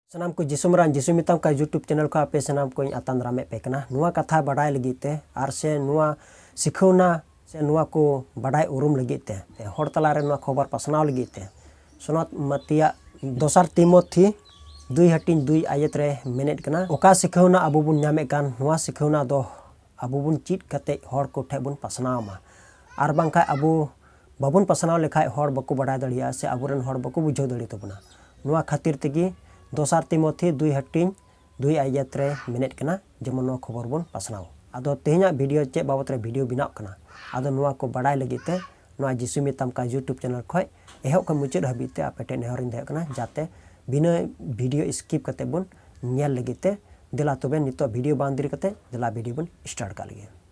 ᱥᱟᱱᱟᱢ ᱠᱚ ᱡᱤᱥᱩ ᱢᱟᱨᱟᱝ ᱡᱤᱥᱩ ᱢᱮᱛᱟᱢ ᱠᱟᱱ ᱭᱩᱴᱩᱵᱽ ᱪᱮᱱᱮᱞ ᱠᱷᱚᱱ ᱟᱯᱮ ᱥᱟᱱᱟᱢ ᱠᱚᱧ ᱟᱛᱟᱝ ᱫᱟᱨᱟᱢᱮᱫ ᱯᱮ ᱠᱟᱱᱟ ᱱᱚᱣᱟ ᱠᱟᱛᱷᱟ ᱵᱟᱰᱟᱭ ᱞᱟᱹᱜᱤᱫ ᱛᱮ ᱟᱨ ᱥᱮ ᱱᱚᱣᱟ ᱥᱤᱠᱷᱟᱹᱣᱱᱟ ᱥᱮ ᱱᱚᱣᱟ ᱠᱚ ᱵᱟᱰᱟᱭ ᱩᱨᱩᱢ ᱞᱟᱹᱜᱤᱫ ᱛᱮ ᱦᱚᱲ ᱛᱟᱞᱟᱨᱮ ᱱᱚᱣᱟ ᱠᱷᱚᱵᱚᱨ ᱯᱟᱥᱱᱟᱣ ᱞᱟᱹᱜᱤᱫ ᱛᱮ ᱥᱚᱱᱚᱛ ᱢᱟᱛᱤᱭᱟᱜ ᱫᱚᱥᱟᱨ ᱛᱤᱢᱚᱛᱷᱤ ᱫᱩᱭ ᱦᱟᱹᱴᱤᱧ ᱫᱩᱭ ᱟᱭᱮᱛ ᱨᱮ ᱢᱮᱱᱮᱫ ᱠᱟᱱᱟ ᱚᱠᱟ ᱥᱤᱠᱷᱟᱹᱣᱱᱟ ᱟᱵᱚ ᱵᱚᱱ ᱧᱟᱢᱮᱫ ᱠᱟᱱ ᱱᱚᱣᱟ ᱥᱤᱠᱷᱟᱹᱣᱱᱟ ᱫᱚ ᱟᱵᱚ ᱵᱚᱱ ᱪᱮᱫ ᱠᱟᱛᱮ ᱦᱚᱲ ᱠᱚᱴᱷᱮᱱ ᱵᱚᱱ ᱯᱟᱥᱱᱟᱣ ᱢᱟ ᱟᱨ ᱵᱟᱝᱠᱷᱟᱱ ᱟᱵᱚ ᱵᱟᱵᱚᱱ ᱯᱟᱥᱱᱟᱣ ᱞᱮᱠᱷᱟᱡ ᱦᱚᱲ ᱵᱟᱠᱚ ᱵᱟᱰᱟᱭ ᱫᱟᱲᱮᱭᱟᱜᱼᱟ ᱥᱮ ᱟᱵᱚ ᱨᱮᱱ ᱦᱚᱲ ᱵᱟᱠᱚ ᱵᱩᱡᱷᱟᱹᱣ ᱫᱟᱲᱮ ᱛᱟᱵᱚᱱᱟ᱾ ᱱᱚᱣᱟ ᱠᱷᱟᱹᱛᱤᱨ ᱛᱮᱜᱮ ᱫᱚᱥᱟᱨ ᱛᱤᱢᱚᱛᱷᱤ ᱫᱩᱭ ᱦᱟᱹᱴᱤᱧ ᱫᱩᱭ ᱟᱭᱭᱟᱛ ᱨᱮ ᱢᱮᱱᱮᱫ ᱠᱟᱱᱟ ᱡᱮᱢᱚᱱ ᱱᱚᱣᱟ ᱠᱷᱚᱵᱚᱨ ᱵᱚᱱ ᱯᱟᱥᱱᱟᱣ᱾ ᱟᱫᱚ ᱛᱮᱦᱮᱧᱟᱜ ᱵᱷᱤᱰᱤᱭᱳ ᱪᱮᱫ ᱵᱟᱵᱚᱛ ᱨᱮ ᱵᱷᱤᱰᱤᱭᱳ ᱵᱮᱱᱟᱣᱜ ᱠᱟᱱᱟ? ᱟᱫᱚ ᱱᱚᱣᱟ ᱠᱚ ᱵᱟᱰᱟᱭ ᱞᱟᱹᱜᱤᱫ ᱛᱮ ᱱᱚᱣᱟ ᱡᱤᱥᱩᱭ ᱢᱮᱛᱟᱢ ᱠᱟᱱᱟ ᱭᱩᱴᱩᱵᱽ ᱪᱮᱱᱮᱞ ᱠᱷᱚᱡ ᱮᱦᱚᱵ ᱠᱷᱚᱡ ᱢᱩᱪᱟᱹᱫ ᱦᱟᱹᱵᱤᱡ ᱛᱮ ᱟᱯᱮ ᱴᱷᱮᱡ ᱱᱮᱦᱚᱨ ᱤᱧ ᱫᱚᱦᱚᱭᱮᱫ ᱠᱟᱱᱟ ᱡᱟᱛᱮ ᱵᱤᱱᱟᱹ ᱵᱷᱤᱰᱤᱭᱳ ᱤᱥᱠᱤᱯ ᱠᱟᱛᱮ ᱵᱚᱱ ᱧᱮᱞ ᱞᱟᱹᱜᱤᱫ ᱛᱮ᱾ ᱫᱮᱞᱟ ᱛᱚᱵᱮ ᱱᱤᱛᱚᱜ ᱵᱷᱤᱰᱤᱭᱳ ᱵᱟᱝ ᱫᱮᱨᱤ ᱠᱟᱛᱮ ᱫᱮᱞᱟ ᱵᱷᱤᱰᱤᱭᱳ ᱵᱚᱱ ᱥᱴᱟᱨᱴ ᱠᱟᱜ ᱞᱮᱜᱮ᱾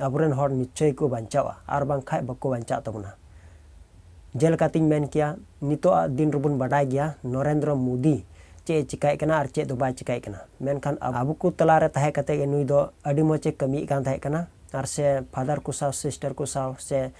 ᱟᱵᱚ ᱨᱮᱱ ᱦᱚᱲ ᱱᱤᱥᱪᱚᱭ ᱠᱚ ᱵᱟᱧᱪᱟᱣᱜᱼᱟ ᱟᱨ ᱵᱟᱝᱠᱷᱟᱱ ᱵᱟᱠᱚ ᱵᱟᱧᱪᱟᱜ ᱛᱟᱵᱚᱱᱟ ᱡᱮᱞᱮᱠᱟ ᱛᱤᱧ ᱢᱮᱱ ᱠᱮᱭᱟ ᱱᱤᱛᱚᱜ ᱟᱜ ᱫᱤᱱ ᱨᱮᱵᱚᱱ ᱵᱟᱰᱟᱭ ᱜᱮᱭᱟ ᱱᱚᱨᱮᱱᱫᱨᱚ ᱢᱳᱫᱤ ᱪᱮᱫ ᱮ ᱪᱤᱠᱟᱹᱭᱮᱫ ᱠᱟᱱᱟ ᱟᱨ ᱪᱮᱫ ᱫᱚ ᱵᱟᱭ ᱪᱤᱠᱟᱹᱭᱮᱫ ᱠᱟᱱᱟ ᱢᱮᱱᱠᱷᱟᱱ ᱟᱵᱚ ᱠᱚ ᱛᱟᱞᱟ ᱨᱮ ᱛᱟᱦᱮᱸ ᱠᱟᱛᱮ ᱜᱮ ᱱᱩᱭ ᱫᱚ ᱟᱹᱰᱤ ᱢᱚᱡᱽ ᱮ ᱠᱟᱹᱢᱤᱭᱮᱫ ᱠᱟᱱ ᱛᱟᱦᱮᱸ ᱠᱟᱱᱟ ᱟᱨ ᱥᱮ ᱯᱷᱟᱫᱟᱨ ᱠᱚ ᱥᱟᱶ ᱥᱤᱥᱴᱟᱨ ᱠᱚ ᱥᱟᱶ ᱥᱮ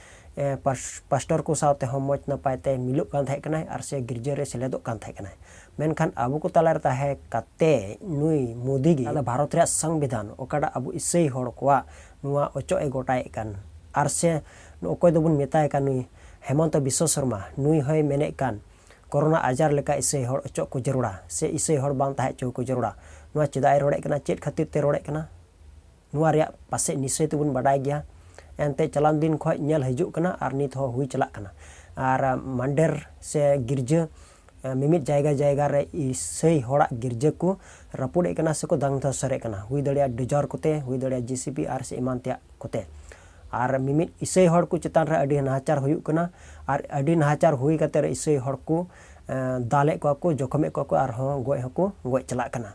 ᱯᱟᱥᱴᱚᱨ ᱠᱚ ᱥᱟᱶᱛᱮ ᱦᱚᱸ ᱢᱚᱡᱽ ᱱᱟᱯᱟᱭ ᱛᱮ ᱢᱤᱞᱚᱜ ᱠᱟᱱ ᱛᱟᱦᱮᱸ ᱠᱟᱱᱟᱭ ᱟᱨ ᱥᱮ ᱜᱤᱨᱡᱟᱹ ᱨᱮ ᱥᱮᱞᱮᱫᱚᱜ ᱠᱟᱱ ᱛᱟᱦᱮᱸ ᱠᱟᱱᱟᱭ᱾ ᱢᱮᱱᱠᱷᱟᱱ ᱟᱵᱚ ᱠᱚ ᱛᱟᱞᱟ ᱨᱮ ᱛᱟᱦᱮᱸ ᱠᱟᱛᱮ ᱱᱩᱭ ᱢᱳᱫᱤ ᱜᱮ ᱟᱫᱚ ᱵᱷᱟᱨᱚᱛ ᱨᱮᱭᱟᱜ ᱥᱚᱝᱵᱤᱫᱷᱟᱱ ᱚᱠᱟᱴᱟᱜ ᱟᱵᱚ ᱤᱥᱟᱹᱭ ᱦᱚᱲ ᱠᱚᱣᱟᱜ ᱱᱚᱣᱟ ᱚᱪᱚᱜ ᱮ ᱜᱚᱴᱟᱭᱮᱫ ᱠᱟᱱ ᱟᱨ ᱥᱮ ᱚᱠᱚᱭ ᱫᱚ ᱵᱚᱱ ᱢᱮᱛᱟᱭ ᱠᱟᱱ ᱱᱩᱭ ᱦᱮᱢᱚᱱᱛᱚ ᱵᱤᱥᱥᱚ ᱥᱚᱨᱢᱟ ᱱᱩᱭ ᱦᱚᱸᱭ ᱢᱮᱱᱮᱫ ᱠᱟᱱ ᱠᱚᱨᱳᱱᱟ ᱟᱡᱟᱨ ᱞᱮᱠᱟ ᱤᱥᱟᱹᱭ ᱦᱚᱲ ᱚᱪᱚᱜ ᱠᱚ ᱡᱟᱹᱨᱩᱲᱟ ᱥᱮ ᱤᱥᱟᱹᱭ ᱦᱚᱲ ᱵᱟᱝ ᱛᱟᱦᱮᱸ ᱚᱪᱚ ᱟᱠᱚ ᱡᱟᱹᱨᱩᱲᱟ᱾ ᱱᱚᱣᱟ ᱪᱮᱫᱟᱜ ᱮ ᱨᱚᱲᱮᱫ ᱠᱟᱱᱟ ᱪᱮᱫ ᱠᱷᱟᱹᱛᱤᱨ ᱛᱮ ᱨᱚᱲᱮᱫ ᱠᱟᱱᱟ? ᱱᱚᱣᱟ ᱨᱮᱭᱟᱜ ᱯᱟᱥᱮᱡ ᱱᱤᱥᱪᱚᱭ ᱛᱮᱵᱚᱱ ᱵᱟᱰᱟᱭ ᱜᱮᱭᱟ ᱮᱱᱛᱮ ᱪᱟᱞᱟᱣᱮᱱ ᱫᱤᱱ ᱠᱷᱚᱡ ᱧᱮᱞ ᱦᱤᱡᱩᱜ ᱠᱟᱱᱟ ᱟᱨ ᱱᱤᱛ ᱦᱚᱸ ᱦᱩᱭ ᱪᱟᱞᱟᱜ ᱠᱟᱱᱟ ᱟᱨ ᱢᱟᱱᱰᱮᱨ ᱥᱮ ᱜᱤᱨᱡᱟᱹ ᱢᱤᱢᱤᱫ ᱡᱟᱭᱜᱟ ᱡᱟᱭᱜᱟ ᱨᱮ ᱤᱥᱟᱹᱭ ᱦᱚᱲᱟᱜ ᱜᱤᱨᱡᱟᱹ ᱠᱚ ᱨᱟᱹᱯᱩᱫᱮᱫ ᱠᱟᱱᱟ ᱥᱮᱠᱚ ᱫᱟᱝ ᱫᱷᱚᱥᱚᱨᱮᱫ ᱠᱟᱱᱟ ᱦᱩᱭ ᱫᱟᱲᱮᱭᱟᱜᱼᱟ ᱰᱤᱡᱚᱨ ᱠᱚᱛᱮ ᱦᱩᱭ ᱫᱟᱲᱮᱭᱟᱜᱼᱟ ᱡᱤᱥᱤᱯᱤ ᱟᱨ ᱥᱮ ᱮᱢᱟᱱ ᱛᱮᱭᱟᱜ ᱠᱚᱛᱮ ᱟᱨ ᱢᱤᱢᱤᱫ ᱤᱥᱟᱹᱭ ᱦᱚᱲ ᱠᱚ ᱪᱮᱛᱟᱱ ᱨᱮ ᱟᱹᱰᱤ ᱱᱟᱦᱟᱪᱟᱨ ᱦᱩᱭᱩᱜ ᱠᱟᱱᱟ ᱟᱨ ᱟᱹᱰᱤ ᱱᱟᱦᱟᱪᱟᱨ ᱦᱩᱭ ᱠᱟᱛᱮ ᱤᱥᱟᱹᱭ ᱦᱚᱲ ᱠᱚ ᱫᱟᱞᱮᱫ ᱠᱚᱣᱟ ᱠᱚ ᱡᱚᱠᱷᱚᱢᱮᱫ ᱠᱚᱣᱟ ᱠᱚ ᱟᱨᱦᱚᱸ ᱜᱚᱡ ᱦᱚᱸᱠᱚ ᱜᱚᱡ ᱪᱟᱞᱟᱜ ᱠᱟᱱᱟ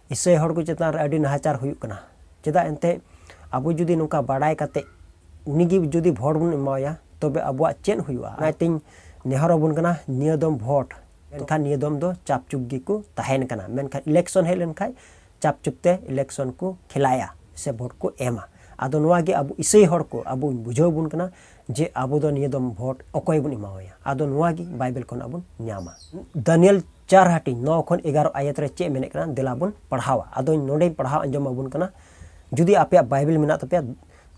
ᱤᱥᱟᱹᱭ ᱦᱚᱲ ᱠᱚ ᱪᱮᱛᱟᱱ ᱨᱮ ᱟᱹᱰᱤ ᱱᱟᱦᱟᱪᱟᱨ ᱦᱩᱭᱩᱜ ᱠᱟᱱᱟ ᱪᱮᱫᱟᱜ ᱮᱱᱛᱮ ᱟᱵᱚ ᱡᱩᱫᱤ ᱱᱚᱝᱠᱟ ᱵᱟᱰᱟᱭ ᱠᱟᱛᱮ ᱩᱱᱤ ᱜᱮ ᱡᱩᱫᱤ ᱵᱷᱳᱴ ᱵᱚᱱ ᱮᱢᱟᱣᱟᱭᱟ ᱛᱚᱵᱮ ᱟᱵᱚᱣᱟᱜ ᱪᱮᱫ ᱦᱩᱭᱩᱜᱼᱟ ᱚᱱᱟᱛᱤᱧ ᱱᱮᱦᱚᱨ ᱟᱵᱚᱱ ᱠᱟᱱᱟ ᱱᱤᱭᱟᱹ ᱫᱚᱢ ᱵᱷᱳᱴ ᱢᱮᱱᱠᱷᱟᱱ ᱱᱤᱭᱟᱹ ᱫᱚᱢ ᱫᱚ ᱪᱟᱯ ᱪᱩᱯ ᱜᱮᱠᱚ ᱛᱟᱦᱮᱱ ᱠᱟᱱᱟ ᱢᱮᱱᱠᱷᱟᱱ ᱤᱞᱮᱠᱥᱚᱱ ᱦᱮᱡ ᱞᱮᱱᱠᱷᱟᱱ ᱪᱟᱯ ᱪᱩᱯ ᱛᱮ ᱤᱞᱮᱠᱥᱚᱱ ᱠᱚ ᱠᱷᱮᱞᱟᱭᱟ ᱥᱮ ᱵᱷᱳᱴ ᱠᱚ ᱮᱢᱟ ᱟᱫᱚ ᱱᱚᱣᱟ ᱜᱮ ᱟᱵᱚ ᱤᱥᱟᱹᱭ ᱦᱚᱲ ᱠᱚ ᱟᱵᱚ ᱵᱩᱡᱷᱟᱹᱣ ᱵᱚᱱ ᱠᱟᱱᱟ ᱡᱮ ᱟᱵᱚ ᱫᱚ ᱱᱤᱭᱟᱹ ᱫᱚᱢ ᱵᱷᱳᱴ ᱚᱠᱚᱭ ᱵᱚᱱ ᱮᱢᱟᱣᱟᱭᱟ ᱟᱫᱚ ᱱᱚᱣᱟ ᱜᱮ ᱵᱟᱭᱵᱮᱞ ᱠᱷᱚᱱᱟᱜ ᱵᱚᱱ ᱧᱟᱢᱟ ᱫᱟᱱᱤᱭᱮᱞ ᱪᱟᱨ ᱦᱟᱹᱴᱤᱧ ᱱᱚ ᱠᱷᱚᱱ ᱮᱜᱟᱨᱚ ᱟᱭᱟᱛ ᱨᱮ ᱪᱮᱫ ᱢᱮᱱᱮᱫ ᱠᱟᱱᱟ ᱫᱮᱞᱟ ᱵᱚᱱ ᱯᱟᱲᱦᱟᱣᱟ ᱟᱫᱚ ᱱᱚᱰᱮᱧ ᱯᱟᱲᱦᱟᱣ ᱟᱸᱡᱚᱢ ᱟᱵᱚᱱ ᱠᱟᱱᱟ ᱡᱩᱫᱤ ᱟᱯᱮᱭᱟᱜ ᱵᱟᱭᱵᱮᱞ ᱢᱮᱱᱟᱜ ᱛᱟᱯᱮᱭᱟ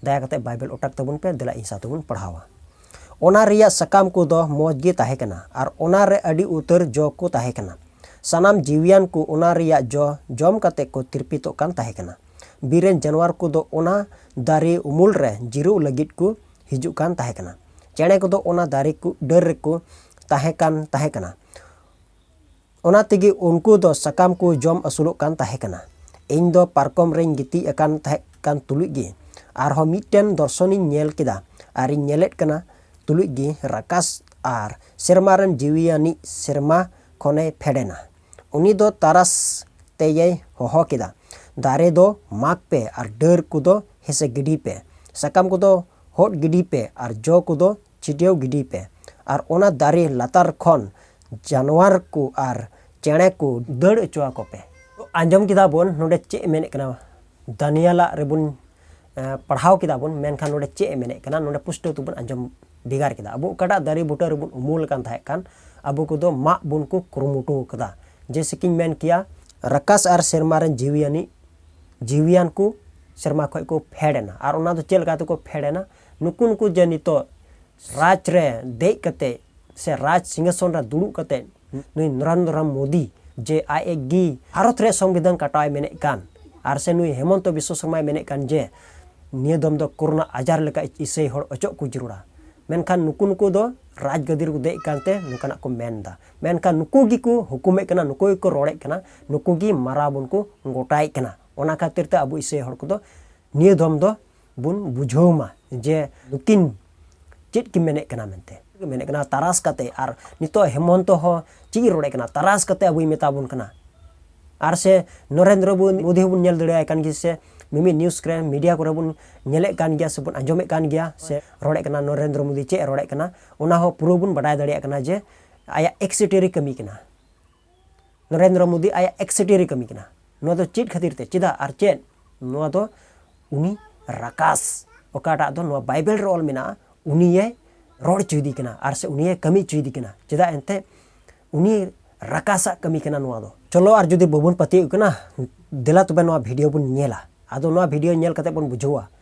ᱫᱟᱭᱟ ᱠᱟᱛᱮ ᱵᱟᱭᱵᱮᱞ ᱚᱴᱟᱠ ᱛᱟᱵᱚᱱ ᱯᱮ ᱫᱮᱞᱟ ᱤᱧ ᱥᱟᱶᱛᱮ ᱵᱚᱱ ᱯᱟᱲᱦᱟᱣᱟ ᱚᱱᱟ ᱨᱮᱭᱟᱜ ᱥᱟᱠᱟᱢ ᱠᱚᱫᱚ ᱢᱚᱡᱽ ᱜᱮ ᱛᱟᱦᱮᱸ ᱠᱟᱱᱟ ᱟᱨ ᱚᱱᱟ ᱨᱮ ᱟᱹᱰᱤ ᱩᱛᱟᱹᱨ ᱡᱚ ᱠᱚ ᱛᱟᱦᱮᱸ ᱠᱟᱱᱟ ᱥᱟᱱᱟᱢ ᱡᱤᱣᱤᱭᱟᱱ ᱠᱚ ᱚᱱᱟ ᱨᱮᱭᱟᱜ ᱡᱚ ᱡᱚᱢ ᱠᱟᱛᱮ ᱠᱚ ᱛᱤᱨᱯᱤᱛᱚᱜ ᱠᱟᱱ ᱛᱟᱦᱮᱸ ᱠᱟᱱᱟ ᱵᱤᱨ ᱨᱮᱱ ᱡᱟᱱᱣᱟᱨ ᱠᱚᱫᱚ ᱚᱱᱟ ᱫᱟᱨᱮ ᱩᱢᱩᱞ ᱨᱮ ᱡᱤᱨᱟᱹᱜ ᱞᱟᱹᱜᱤᱫ ᱠᱚ ᱦᱤᱡᱩᱜ ᱠᱟᱱ ᱛᱟᱦᱮᱸ ᱠᱟᱱᱟ ᱪᱮᱬᱮ ᱠᱚᱫᱚ ᱚᱱᱟ ᱫᱟᱨᱮ ᱠᱚ ᱰᱟᱹᱨ ᱨᱮᱠᱚ ᱛᱟᱦᱮᱸ ᱠᱟᱱ ᱛᱟᱦᱮᱸ ᱠᱟᱱᱟ ᱚᱱᱟ ᱛᱮᱜᱮ ᱩᱱᱠᱩ ᱫᱚ ᱥᱟᱠᱟᱢ ᱠᱚ ᱡᱚᱢ ᱟᱹᱥᱩᱞᱚᱜ ᱠᱟᱱ ᱛᱟᱦᱮᱸ ᱠᱟᱱᱟ ᱤᱧ ᱫᱚ ᱯᱟᱨᱠᱚᱢ ᱨᱮᱧ ᱜᱤᱛᱤᱡ ᱟᱠᱟᱱ ᱛᱟᱦᱮᱸ ᱠᱟᱱ ᱛᱩᱞᱩᱡ ᱜᱮ ᱟᱨᱦᱚᱸ ᱢᱤᱫᱴᱮᱱ ᱫᱚᱨᱥᱚᱱᱤᱧ ᱧᱮᱞ ᱠᱮᱫᱟ ᱟᱨᱤᱧ ᱧᱮᱞᱮᱫ ᱠᱟᱱᱟ ᱛᱩᱞᱩᱡ ᱜᱮ ᱨᱟᱠᱟᱥ ᱟᱨ ᱥᱮᱨᱢᱟ ᱨᱮᱱ ᱡᱤᱣᱤᱭᱟᱱᱤᱡ ᱥᱮᱨᱢᱟ ᱠᱷᱚᱱᱮ ᱯᱷᱮᱰ ᱮᱱᱟ ᱩᱱᱤ ᱫᱚ ᱛᱟᱨᱟᱥ ᱛᱮᱭᱮᱭ ᱦᱚᱦᱚ ᱠᱮᱫᱟ, ᱫᱟᱨᱮ ᱫᱚ ᱢᱟᱜᱽ ᱯᱮ ᱟᱨ ᱰᱟᱹᱨ ᱠᱚᱫᱚ ᱦᱮᱸᱥᱮ ᱜᱤᱰᱤᱭ ᱯᱮ, ᱥᱟᱠᱟᱢ ᱠᱚᱫᱚ ᱦᱚᱫ ᱜᱤᱰᱤᱭ ᱯᱮ ᱟᱨ ᱡᱚ ᱠᱚᱫᱚ ᱪᱷᱤᱰᱭᱟᱹᱣ ᱜᱤᱰᱤᱭ ᱯᱮ᱾ ᱟᱨ ᱚᱱᱟ ᱫᱟᱨᱮ ᱞᱟᱛᱟᱨ ᱠᱷᱚᱱ ᱡᱟᱱᱣᱟᱨ ᱠᱚ ᱟᱨ ᱪᱮᱬᱮ ᱠᱚ ᱫᱟᱹᱲ ᱚᱪᱚ ᱟᱠᱚ ᱯᱮ᱾ ᱛᱚ ᱟᱸᱡᱚᱢ ᱠᱮᱫᱟ ᱵᱚᱱ ᱱᱚᱰᱮ ᱪᱮᱫ ᱮ ᱢᱮᱱᱮᱫ ᱠᱟᱱᱟ, ᱫᱟᱱᱤᱭᱮᱞᱟᱜ ᱨᱮᱵᱚᱱ ᱯᱟᱲᱦᱟᱣ ᱠᱮᱫᱟ ᱵᱚᱱ ᱢᱮᱱᱠᱷᱟᱱ ᱱᱚᱰᱮ ᱪᱮᱫ ᱮ ᱢᱮᱱᱮᱫ ᱠᱟᱱᱟ ᱱᱚᱰᱮ ᱯᱩᱥᱴᱟᱹᱣ ᱛᱮᱵᱚᱱ ᱟᱸᱡᱚᱢ ᱵᱷᱮᱜᱟᱨ ᱠᱮᱫᱟ ᱟᱵᱚ ᱚᱠᱟᱴᱟᱜ ᱫᱟᱨᱮ ᱵᱩᱴᱟᱹ ᱨᱮᱵᱚᱱ ᱩᱢᱩᱞ ᱟᱠᱟᱱ ᱛᱟᱦᱮᱸ ᱠᱟᱱ ᱟᱵᱚ ᱠᱚᱫᱚ ᱢᱟᱜ ᱵᱚᱱ ᱠᱚ ᱠᱩᱨᱩᱢᱩᱴᱩ ᱟᱠᱟᱫᱟ ᱡᱮᱭᱥᱮ ᱠᱤᱧ ᱢᱮᱱ ᱠᱮᱭᱟ ᱨᱟᱠᱟᱥ ᱟᱨ ᱥᱮᱨᱢᱟ ᱨᱮᱱ ᱡᱤᱣᱤᱭᱟᱱᱤ ᱡᱤᱣᱤᱭᱟᱱ ᱠᱚ ᱥᱮᱨᱢᱟ ᱠᱷᱚᱡ ᱠᱚ ᱯᱷᱮᱰ ᱮᱱᱟ ᱟᱨ ᱚᱱᱟ ᱫᱚ ᱪᱮᱫ ᱞᱮᱠᱟ ᱛᱮᱠᱚ ᱯᱷᱮᱰ ᱮᱱᱟ ᱱᱩᱠᱩ ᱱᱩᱠᱩ ᱡᱮ ᱱᱤᱛᱚᱜ ᱨᱟᱡᱽ ᱨᱮ ᱫᱮᱡ ᱠᱟᱛᱮ ᱥᱮ ᱨᱟᱡᱽ ᱥᱤᱝᱦᱟᱥᱚᱱ ᱨᱮ ᱫᱩᱲᱩᱵ ᱠᱟᱛᱮ ᱱᱩᱭ ᱱᱚᱨᱮᱱᱫᱨᱚ ᱢᱳᱫᱤ ᱡᱮ ᱟᱡ ᱮ ᱜᱮ ᱵᱷᱟᱨᱚᱛ ᱨᱮᱭᱟᱜ ᱥᱚᱝᱵᱤᱫᱷᱟᱱ ᱠᱟᱴᱟᱣ ᱮ ᱢᱮᱱᱮᱫ ᱠᱟᱱ ᱟᱨ ᱥᱮ ᱱᱩᱭ ᱦᱮᱢᱚᱱᱛᱚ ᱵᱤᱥᱥᱚ ᱥᱚᱨᱢᱟᱭ ᱢᱮᱱᱮᱫ ᱠᱟᱱ ᱡᱮ ᱱᱤᱭᱟᱹ ᱫᱚᱢ ᱫᱚ ᱠᱳᱨᱳᱱᱟ ᱟᱡᱟᱨ ᱞᱮᱠᱟ ᱤᱥᱟᱹᱭ ᱦᱚᱲ ᱚᱪᱚᱜ ᱠᱚ ᱡᱟᱹᱨᱩᱲᱟ ᱢᱮᱱᱠᱷᱟᱱ ᱱᱩᱠᱩ ᱱᱩᱠᱩ ᱫᱚ ᱨᱟᱡᱽ ᱜᱟᱹᱫᱤ ᱨᱮᱠᱚ ᱫᱮᱡ ᱠᱟᱱᱛᱮ ᱱᱚᱝᱠᱟᱱᱟᱜ ᱠᱚ ᱢᱮᱱ ᱮᱫᱟ ᱢᱮᱱᱠᱷᱟᱱ ᱱᱩᱠᱩ ᱜᱮᱠᱚ ᱦᱩᱠᱩᱢᱮᱫ ᱠᱟᱱᱟ ᱱᱩᱠᱩ ᱜᱮᱠᱚ ᱨᱚᱲᱮᱫ ᱠᱟᱱᱟ ᱱᱩᱠᱩ ᱜᱮ ᱢᱟᱨᱟᱣ ᱵᱚᱱ ᱠᱚ ᱜᱚᱴᱟᱭᱮᱫ ᱠᱟᱱᱟ ᱚᱱᱟ ᱠᱷᱟᱹᱛᱤᱨ ᱛᱮ ᱟᱵᱚ ᱤᱥᱟᱹᱭ ᱦᱚᱲ ᱠᱚᱫᱚ ᱱᱤᱭᱟᱹ ᱫᱚᱢ ᱫᱚ ᱵᱚᱱ ᱵᱩᱡᱷᱟᱹᱣ ᱢᱟ ᱡᱮ ᱱᱩᱠᱤᱱ ᱪᱮᱫ ᱠᱤᱱ ᱢᱮᱱᱮᱫ ᱠᱟᱱᱟ ᱢᱮᱱᱛᱮ ᱢᱮᱱᱮᱫ ᱠᱟᱱᱟ ᱛᱟᱨᱟᱥ ᱠᱟᱛᱮ ᱟᱨ ᱱᱤᱛᱚᱜ ᱦᱮᱢᱚᱱᱛᱚ ᱦᱚᱸ ᱪᱮᱫ ᱮ ᱨᱚᱲᱮᱫ ᱠᱟᱱᱟ ᱛᱟᱨᱟᱥ ᱠᱟᱛᱮ ᱟᱵᱚᱭ ᱢᱮᱛᱟ ᱵᱚᱱ ᱠᱟᱱᱟ ᱟᱨ ᱥᱮ ᱱᱚᱨᱮᱱᱫᱨᱚ ᱢᱳᱫᱤ ᱦᱚᱸᱵᱚᱱ ᱧᱮᱞ ᱫᱟᱲᱮᱭᱟᱭ ᱠᱟᱱ ᱜᱮ ᱥᱮ ᱢᱤᱢᱤᱫ ᱱᱤᱭᱩᱡᱽ ᱠᱚᱨᱮ ᱢᱤᱰᱤᱭᱟ ᱠᱚᱨᱮ ᱵᱚᱱ ᱧᱮᱞᱮᱫ ᱠᱟᱱ ᱜᱮᱭᱟ ᱥᱮᱵᱚᱱ ᱟᱸᱡᱚᱢᱮᱫ ᱠᱟᱱ ᱜᱮᱭᱟ ᱥᱮ ᱨᱚᱲᱮᱫ ᱠᱟᱱᱟ ᱱᱚᱨᱮᱱᱫᱨᱚ ᱢᱳᱫᱤ ᱪᱮᱫ ᱮ ᱨᱚᱲᱮᱫ ᱠᱟᱱᱟ ᱚᱱᱟ ᱦᱚᱸ ᱯᱩᱨᱟᱹ ᱵᱚᱱ ᱵᱟᱰᱟᱭ ᱫᱟᱲᱮᱭᱟᱜ ᱠᱟᱱᱟ ᱡᱮ ᱟᱭᱟᱜ ᱮᱠᱥᱤᱴᱮᱨᱤ ᱠᱟᱹᱢᱤ ᱠᱟᱱᱟ ᱱᱚᱨᱮᱱᱫᱨᱚ ᱢᱳᱫᱤ ᱟᱭᱟᱜ ᱮᱠᱥᱮᱴᱤᱭᱟᱨᱤ ᱠᱟᱹᱢᱤ ᱠᱟᱱᱟ ᱱᱚᱣᱟ ᱫᱚ ᱪᱮᱫ ᱠᱷᱟᱹᱛᱤᱨ ᱛᱮ ᱪᱮᱫᱟᱜ ᱟᱨ ᱪᱮᱫ ᱱᱚᱣᱟ ᱫᱚ ᱩᱱᱤ ᱨᱟᱠᱟᱥ ᱚᱠᱟᱴᱟᱜ ᱫᱚ ᱱᱚᱣᱟ ᱵᱟᱭᱵᱮᱞ ᱨᱮ ᱚᱞ ᱢᱮᱱᱟᱜᱼᱟ ᱩᱱᱤᱭᱮ ᱨᱚᱲ ᱦᱚᱪᱚᱭᱮᱫᱮ ᱠᱟᱱᱟ ᱟᱨ ᱥᱮ ᱩᱱᱤᱭᱮ ᱠᱟᱹᱢᱤ ᱦᱚᱪᱚᱭᱮᱫᱮ ᱠᱟᱱᱟ ᱪᱮᱫᱟᱜ ᱮᱱᱛᱮ ᱩᱱᱤ ᱨᱟᱠᱟᱥᱟᱜ ᱠᱟᱹᱢᱤ ᱠᱟᱱᱟ ᱱᱚᱣᱟ ᱫᱚ ᱪᱚᱞᱚ ᱟᱨ ᱡᱩᱫᱤ ᱵᱟᱵᱚᱱ ᱯᱟᱹᱛᱭᱟᱹᱜ ᱠᱟᱱᱟ ᱫᱮᱞᱟ ᱛᱚᱵᱮ ᱱᱚᱣᱟ ᱵᱷᱤᱰᱤᱭᱳ ᱵᱚᱱ ᱧᱮᱞᱟ ᱟᱫᱚ ᱱᱚᱣᱟ ᱵᱷᱤᱰᱤᱭᱳ ᱧᱮᱞ ᱠᱟᱛᱮ ᱵᱚᱱ ᱵᱩᱡᱷᱟᱹᱣᱟ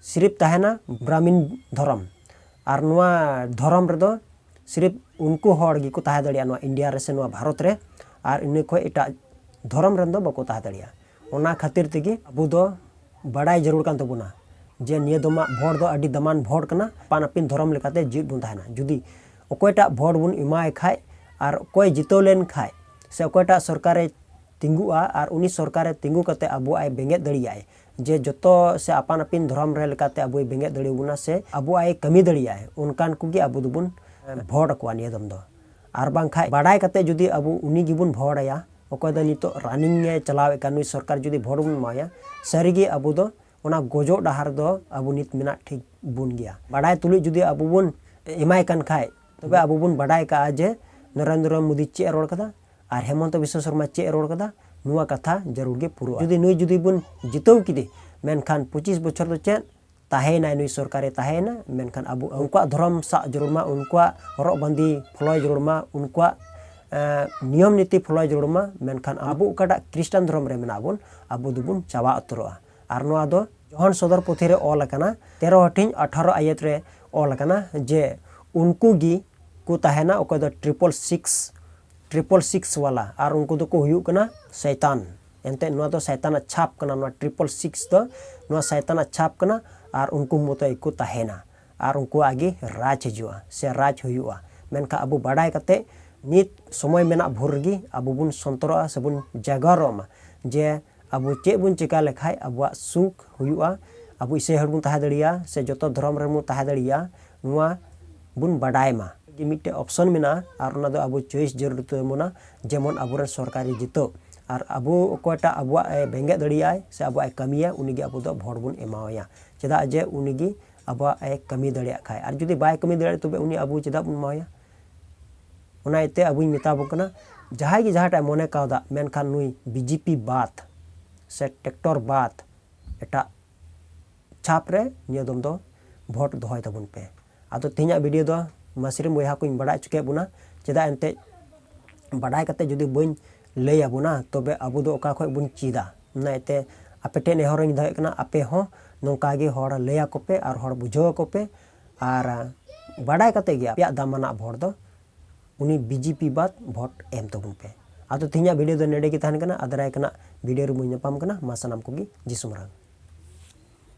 ᱥᱤᱨᱤᱯ ᱛᱟᱦᱮᱱᱟ ᱵᱨᱟᱦᱢᱤᱱ ᱫᱷᱚᱨᱚᱢ ᱟᱨ ᱱᱚᱣᱟ ᱫᱷᱚᱨᱚᱢ ᱨᱮᱫᱚ ᱥᱤᱨᱤᱯ ᱩᱱᱠᱩ ᱦᱚᱲ ᱜᱮᱠᱚ ᱛᱟᱦᱮᱸ ᱫᱟᱲᱮᱭᱟᱜᱼᱟ ᱱᱚᱣᱟ ᱤᱱᱰᱤᱭᱟ ᱨᱮ ᱥᱮ ᱱᱚᱣᱟ ᱵᱷᱟᱨᱚᱛ ᱨᱮ ᱟᱨ ᱤᱱᱟᱹ ᱠᱷᱚᱱ ᱮᱴᱟᱜ ᱫᱷᱚᱨᱚᱢ ᱨᱮᱱ ᱫᱚ ᱵᱟᱠᱚ ᱛᱟᱦᱮᱸ ᱫᱟᱲᱮᱭᱟᱜᱼᱟ ᱚᱱᱟ ᱠᱷᱟᱹᱛᱤᱨ ᱛᱮᱜᱮ ᱟᱵᱚ ᱫᱚ ᱵᱟᱲᱟᱭ ᱡᱟᱹᱨᱩᱲ ᱠᱟᱱ ᱛᱟᱵᱚᱱᱟ ᱡᱮ ᱱᱤᱭᱟᱹ ᱫᱚᱢᱟᱜ ᱵᱷᱳᱴ ᱫᱚ ᱟᱹᱰᱤ ᱫᱟᱢᱟᱱ ᱵᱷᱳᱴ ᱠᱟᱱᱟ ᱟᱯᱟᱱ ᱟᱹᱯᱤᱱ ᱫᱷᱚᱨᱚᱢ ᱞᱮᱠᱟᱛᱮ ᱡᱤᱣᱮᱫ ᱵᱚᱱ ᱛᱟᱦᱮᱱᱟ ᱡᱩᱫᱤ ᱚᱠᱚᱭᱴᱟᱜ ᱵᱷᱳᱴ ᱵᱚᱱ ᱮᱢᱟᱭ ᱠᱷᱟᱡ ᱟᱨ ᱚᱠᱚᱭ ᱡᱤᱛᱟᱹᱣ ᱞᱮᱱ ᱠᱷᱟᱡ ᱥᱮ ᱚᱠᱚᱭᱴᱟᱜ ᱥᱚᱨᱠᱟᱨᱮ ᱛᱤᱸᱜᱩᱜᱼᱟ ᱟᱨ ᱩᱱᱤ ᱥᱚᱨᱠᱟᱨᱮ ᱛᱤᱸᱜᱩ ᱠᱟᱛᱮ ᱟᱵᱚᱣᱟᱜ ᱮ ᱵᱮᱸᱜᱮᱫ ᱫᱟᱲᱮᱭᱟᱜᱼᱟᱭ ᱡᱮ ᱡᱚᱛᱚ ᱥᱮ ᱟᱯᱟᱱ ᱟᱹᱯᱤᱱ ᱫᱷᱚᱨᱚᱢ ᱨᱮ ᱞᱮᱠᱟᱛᱮ ᱟᱵᱚᱭ ᱵᱮᱸᱜᱮᱫ ᱫᱟᱲᱮᱭᱟᱵᱚᱱᱟ ᱥᱮ ᱟᱵᱚᱣᱟᱜ ᱮ ᱠᱟᱹᱢᱤ ᱫᱟᱲᱮᱭᱟᱜᱼᱟᱭ ᱚᱱᱠᱟᱱ ᱠᱚᱜᱮ ᱟᱵᱚ ᱫᱚᱵᱚᱱ ᱵᱷᱳᱴ ᱟᱠᱚᱣᱟ ᱱᱤᱭᱟᱹ ᱫᱚᱢ ᱫᱚ ᱟᱨ ᱵᱟᱝᱠᱷᱟᱡ ᱵᱟᱰᱟᱭ ᱠᱟᱛᱮ ᱡᱩᱫᱤ ᱟᱵᱚ ᱩᱱᱤ ᱜᱮᱵᱚᱱ ᱵᱷᱳᱴ ᱟᱭᱟ ᱚᱠᱚᱭ ᱫᱚ ᱱᱤᱛᱚᱜ ᱨᱟᱱᱤᱝ ᱮ ᱪᱟᱞᱟᱣᱮᱫ ᱠᱟᱱ ᱱᱩᱭ ᱥᱚᱨᱠᱟᱨ ᱡᱩᱫᱤ ᱵᱷᱳᱴ ᱵᱚᱱ ᱮᱢᱟᱭᱟ ᱥᱟᱹᱨᱤᱜᱮ ᱟᱵᱚ ᱫᱚ ᱚᱱᱟ ᱜᱚᱡᱚᱜ ᱰᱟᱦᱟᱨ ᱫᱚ ᱟᱵᱚ ᱱᱤᱛ ᱢᱮᱱᱟᱜ ᱴᱷᱤᱠ ᱵᱚᱱ ᱜᱮᱭᱟ ᱵᱟᱰᱟᱭ ᱛᱩᱞᱩᱡ ᱡᱩᱫᱤ ᱟᱵᱚ ᱵᱚᱱ ᱮᱢᱟᱭ ᱠᱟᱱ ᱠᱷᱟᱡ ᱛᱚᱵᱮ ᱟᱵᱚ ᱵᱚᱱ ᱵᱟᱰᱟᱭ ᱠᱟᱜᱼᱟ ᱡᱮ ᱱᱚᱨᱮᱱᱫᱨᱚ ᱢᱳᱫᱤ ᱪᱮᱫ ᱮ ᱨᱚᱲ ᱠᱟᱫᱟ ᱟᱨ ᱦᱮᱢᱚᱱᱛᱚ ᱵᱤᱥᱥᱚ ᱥᱚᱨᱢᱟ ᱪᱮᱫ ᱮ ᱨᱚᱲ ᱠᱟᱫᱟ ᱱᱚᱣᱟ ᱠᱟᱛᱷᱟ ᱡᱟᱹᱨᱩᱲ ᱜᱮ ᱯᱩᱨᱟᱹᱜᱼᱟ ᱡᱩᱫᱤ ᱱᱩᱭ ᱡᱩᱫᱤ ᱵᱚᱱ ᱡᱤᱛᱟᱹᱣ ᱠᱮᱫᱮ ᱢᱮᱱᱠᱷᱟᱱ ᱯᱚᱸᱪᱤᱥ ᱵᱚᱪᱷᱚᱨ ᱫᱚ ᱪᱮᱫ ᱛᱟᱦᱮᱸᱭᱮᱱᱟᱭ ᱱᱩᱭ ᱥᱚᱨᱠᱟᱨᱮ ᱛᱟᱦᱮᱸᱭᱮᱱᱟ ᱢᱮᱱᱠᱷᱟᱱ ᱟᱵᱚ ᱩᱱᱠᱩᱣᱟᱜ ᱫᱷᱚᱨᱚᱢ ᱥᱟᱵ ᱡᱟᱹᱨᱩᱲ ᱢᱟ ᱩᱱᱠᱩᱣᱟᱜ ᱦᱚᱨᱚᱜ ᱵᱟᱸᱫᱮ ᱯᱷᱚᱞᱚᱭ ᱡᱟᱹᱨᱩᱲ ᱢᱟ ᱩᱱᱠᱩᱣᱟᱜ ᱱᱤᱭᱚᱢ ᱱᱤᱛᱤ ᱯᱷᱚᱞᱚᱭ ᱡᱟᱹᱨᱩᱲ ᱢᱟ ᱢᱮᱱᱠᱷᱟᱱ ᱟᱵᱚ ᱚᱠᱟᱴᱟᱜ ᱠᱷᱨᱤᱥᱴᱟᱱ ᱫᱷᱚᱨᱚᱢ ᱨᱮ ᱢᱮᱱᱟᱜ ᱵᱚᱱ ᱟᱵᱚ ᱫᱚᱵᱚᱱ ᱪᱟᱵᱟ ᱩᱛᱟᱹᱨᱚᱜᱼᱟ ᱟᱨ ᱱᱚᱣᱟ ᱫᱚ ᱡᱚᱦᱟᱱ ᱥᱚᱫᱚᱨ ᱯᱩᱛᱷᱤ ᱨᱮ ᱚᱞ ᱟᱠᱟᱱᱟ ᱛᱮᱨᱚ ᱦᱟᱹᱴᱤᱧ ᱟᱴᱷᱟᱨᱚ ᱟᱭᱮᱛ ᱨᱮ ᱚᱞ ᱟᱠᱟᱱᱟ ᱡᱮ ᱩᱱᱠᱩ ᱜᱮ ᱠᱚ ᱛᱟᱦᱮᱱᱟ ᱚᱠᱚᱭ ᱫᱚ ᱴᱨᱤᱯᱚᱞ ᱥᱤᱠᱥ ᱴᱨᱤᱯᱚᱞ ᱥᱤᱠᱥ ᱣᱟᱞᱟ ᱟᱨ ᱩᱱᱠᱩ ᱫᱚᱠᱚ ᱦᱩᱭᱩᱜ ᱠᱟᱱᱟ ᱥᱟᱭᱛᱟᱱ ᱮᱱᱛᱮ ᱱᱚᱣᱟ ᱫᱚ ᱥᱟᱭᱛᱟᱱᱟᱜ ᱪᱷᱟᱯ ᱠᱟᱱᱟ ᱱᱚᱣᱟ ᱴᱨᱤᱯᱚᱞ ᱥᱤᱠᱥ ᱫᱚ ᱱᱚᱣᱟ ᱥᱟᱭᱛᱟᱱᱟᱜ ᱪᱷᱟᱯ ᱠᱟᱱᱟ ᱟᱨ ᱩᱱᱠᱩ ᱢᱚᱛᱚ ᱜᱮᱠᱚ ᱛᱟᱦᱮᱱᱟ ᱟᱨ ᱩᱱᱠᱩᱣᱟᱜ ᱜᱮ ᱨᱟᱡᱽ ᱦᱤᱡᱩᱜᱼᱟ ᱥᱮ ᱨᱟᱡᱽ ᱦᱩᱭᱩᱜᱼᱟ ᱢᱮᱱᱠᱷᱟᱱ ᱟᱵᱚ ᱵᱟᱰᱟᱭ ᱠᱟᱛᱮ ᱱᱤᱛ ᱥᱚᱢᱚᱭ ᱢᱮᱱᱟᱜ ᱵᱷᱳᱨ ᱨᱮᱜᱮ ᱟᱵᱚ ᱵᱚᱱ ᱥᱚᱱᱛᱚᱨᱚᱜᱼᱟ ᱥᱮᱵᱚᱱ ᱡᱟᱜᱟᱨᱚᱜ ᱢᱟ ᱡᱮ ᱟᱵᱚ ᱪᱮᱫ ᱵᱚᱱ ᱪᱮᱠᱟ ᱞᱮᱠᱷᱟᱡ ᱟᱵᱚᱣᱟᱜ ᱥᱩᱠ ᱦᱩᱭᱩᱜᱼᱟ, ᱟᱵᱚ ᱤᱥᱟᱹᱭ ᱦᱚᱲ ᱵᱚᱱ ᱛᱟᱦᱮᱸ ᱫᱟᱲᱮᱭᱟᱜᱼᱟ ᱥᱮ ᱡᱚᱛᱚ ᱫᱷᱚᱨᱚᱢ ᱨᱮᱱ ᱵᱚᱱ ᱛᱟᱦᱮᱸ ᱫᱟᱲᱮᱭᱟᱜᱼᱟ ᱱᱚᱣᱟ ᱵᱚᱱ ᱵᱟᱰᱟᱭ ᱢᱟ᱾ ᱜᱮ ᱢᱤᱫᱴᱮᱡ ᱚᱯᱥᱚᱱ ᱢᱮᱱᱟᱜᱼᱟ ᱟᱨ ᱚᱱᱟ ᱫᱚ ᱟᱵᱚ ᱪᱚᱭᱮᱥ ᱡᱟᱹᱨᱩᱲ ᱛᱟᱵᱚᱱᱟ ᱡᱮᱢᱚᱱ ᱟᱵᱚ ᱨᱮᱱ ᱥᱚᱨᱠᱟᱨᱤ ᱡᱤᱛᱟᱹ ᱟᱨ ᱟᱵᱚ ᱚᱠᱚᱭᱴᱟᱜ ᱟᱵᱚᱣᱟᱜ ᱮ ᱵᱮᱸᱜᱮᱫ ᱫᱟᱲᱮᱭᱟᱜᱼᱟᱭ ᱥᱮ ᱟᱵᱚᱣᱟᱜ ᱮ ᱠᱟᱹᱢᱤᱭᱟ ᱩᱱᱤ ᱜᱮ ᱟᱵᱚ ᱫᱚ ᱵᱷᱚᱴ ᱵᱚᱱ ᱮᱢᱟᱣᱟᱭᱟ ᱪᱮᱫᱟᱜ ᱡᱮ ᱩᱱᱤ ᱜᱮ ᱟᱵᱚᱣᱟᱜ ᱮ ᱠᱟᱹᱢᱤ ᱫᱟᱲᱮᱭᱟᱜ ᱠᱷᱟᱡ ᱟᱨ ᱡᱩᱫᱤ ᱵᱟᱭ ᱠᱟᱹᱢᱤ ᱫᱟᱲᱮᱭᱟᱜᱼᱟ ᱛᱚᱵᱮ ᱩᱱᱤ ᱟᱵᱚ ᱪᱮᱫᱟᱜ ᱵᱚᱱ ᱮᱢᱟᱣᱟᱭᱟ᱾ ᱚᱱᱟ ᱤᱭᱟᱹᱛᱮ ᱟᱵᱚᱧ ᱢᱮᱛᱟ ᱵᱚᱱ ᱠᱟᱱᱟ ᱡᱟᱦᱟᱸᱭ ᱜᱮ ᱡᱟᱦᱟᱸᱴᱟᱜ ᱢᱚᱱᱮ ᱠᱟᱣᱫᱟ ᱢᱮᱱᱠᱷᱟᱱ ᱱᱩᱭ ᱵᱤᱡᱮᱯᱤ ᱵᱟᱫ ᱥᱮ ᱴᱮᱠᱴᱚᱨ ᱵᱟᱫ ᱮᱴᱟᱜ ᱪᱷᱟᱯ ᱨᱮ ᱱᱤᱭᱟᱹ ᱫᱚᱢ ᱫᱚ ᱵᱷᱳᱴ ᱫᱚᱦᱚᱭ ᱛᱟᱵᱚᱱ ᱯᱮ ᱟᱫᱚ ᱛᱮᱦᱮᱧᱟᱜ ᱵᱷᱤᱰᱤᱭᱳ ᱫᱚ ᱢᱟᱥᱨᱤᱢ ᱵᱚᱭᱦᱟ ᱠᱚᱧ ᱵᱟᱰᱟᱭ ᱦᱚᱪᱚ ᱠᱮᱫ ᱵᱚᱱᱟ ᱪᱮᱫᱟᱜ ᱮᱱᱛᱮᱫ ᱵᱟᱰᱟᱭ ᱠᱟᱛᱮ ᱡᱩᱫᱤ ᱵᱟᱹᱧ ᱞᱟᱹᱭ ᱟᱵᱚᱱᱟ ᱛᱚᱵᱮ ᱟᱵᱚ ᱫᱚ ᱚᱠᱟ ᱠᱷᱚᱡ ᱵᱚᱱ ᱪᱮᱫᱟ ᱚᱱᱟ ᱤᱭᱟᱹᱛᱮ ᱟᱯᱮ ᱴᱷᱮᱱ ᱱᱮᱦᱚᱨᱤᱧ ᱫᱚᱦᱚᱭᱮᱫ ᱠᱟᱱᱟ ᱟᱯᱮ ᱦᱚᱸ ᱱᱚᱝᱠᱟ ᱜᱮ ᱦᱚᱲ ᱞᱟᱹᱭ ᱟᱠᱚ ᱯᱮ ᱟᱨ ᱦᱚᱲ ᱵᱩᱡᱷᱟᱹᱣ ᱟᱠᱚ ᱯᱮ ᱟᱨ ᱵᱟᱰᱟᱭ ᱠᱟᱛᱮ ᱜᱮ ᱟᱯᱮᱭᱟᱜ ᱫᱟᱢᱟᱱᱟᱜ ᱵᱷᱳᱴ ᱫᱚ ᱩᱱᱤ ᱵᱤᱡᱮᱯᱤ ᱵᱟᱫ ᱵᱷᱳᱴ ᱮᱢ ᱛᱟᱵᱚᱱ ᱯᱮ ᱟᱫᱚ ᱛᱮᱦᱮᱧᱟᱜ ᱵᱷᱤᱰᱤᱭᱳ ᱫᱚ ᱱᱮᱰᱮ ᱜᱮ ᱛᱟᱦᱮᱱ ᱠᱟᱱᱟ ᱟᱫᱟᱨᱟᱭ ᱠᱟᱱᱟ ᱵᱷᱤᱰᱤᱭᱳ ᱨᱮᱵᱚᱱ ᱧᱟᱯᱟᱢ ᱠᱟᱱᱟ ᱢᱟ ᱥᱟᱱᱟᱢ ᱠᱚᱜᱮ ᱡᱤᱥᱩ ᱢᱟᱨᱟᱝ